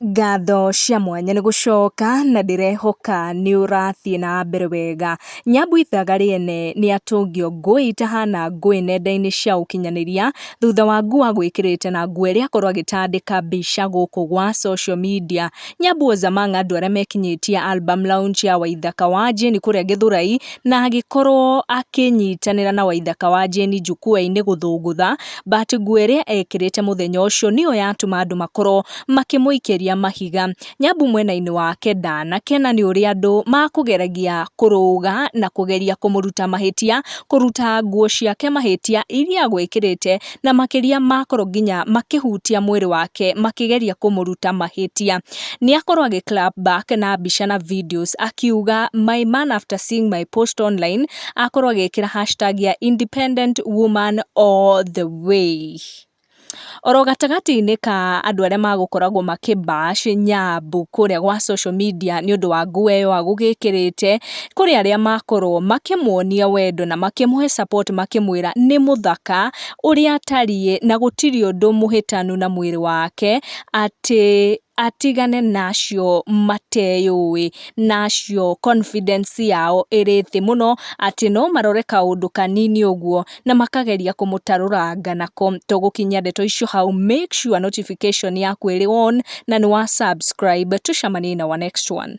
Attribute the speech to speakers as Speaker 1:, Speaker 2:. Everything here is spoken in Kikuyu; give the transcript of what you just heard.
Speaker 1: Ngatho cia mwanya nĩ gũcoka na ndĩrehoka nĩ ũrathiĩ na mbere wega. Nyambu ithaga rĩene nĩ atũngio ngũĩ itahana ngũĩ nenda-inĩ cia ũkinyanĩria thutha wa nguo gwĩkĩrĩte na nguo ĩrĩa akorwo agĩtandĩka mbica gũkũ gwa social media. Nyambu was among andũ arĩa mekinyĩtie album launch ya Waithaka wa Jane kũrĩa Gĩthũrai na agĩkorwo akĩnyitanĩra na Waithaka wa Jane njukua-inĩ gũthũngũtha. but nguo ĩrĩa ekĩrĩte mũthenya ũcio nĩyo yatũma andũ makorwo makĩmũikĩria mahiga. Nyambu mwena-inĩ wake ndanakena nĩ ũrĩa andũ makũgeragia kũrũga na kũgeria kũmũruta mahĩtia, kũruta nguo ciake mahĩtia iria agwĩkĩrĩte na makĩria makorwo nginya makĩhutia mwĩrĩ wake makĩgeria kũmũruta mahĩtia. Nĩ akorwo agĩ clap back na mbica na videos akiuga my man after seeing my post online akorwo agĩkĩra hashtag ya independent woman all the way. Oro gatagatĩ-inĩ ka andũ arĩa magũkoragwo makĩ bash Nyambu kũrĩa gwa social media nĩ ũndũ wa nguo ĩyo agũgĩkĩrĩte, kũrĩ arĩa makorwo makĩmuonia wendo na makĩmũhe support makĩmwĩra nĩ mũthaka ũrĩa atariĩ na gũtirĩ ũndũ mũhĩtanu na mwĩrĩ wake atĩ atigane nacio mateyũĩ, na acio confidence yao ĩrĩ thĩ mũno, atĩ no marore kaũndũ kanini ũguo na makageria kũmũtarũranga nako. To gũkinyia ndeto icio hau, make sure notification yaku ĩrĩ on na nĩ wa subscribe. Tũcemanie in our next one.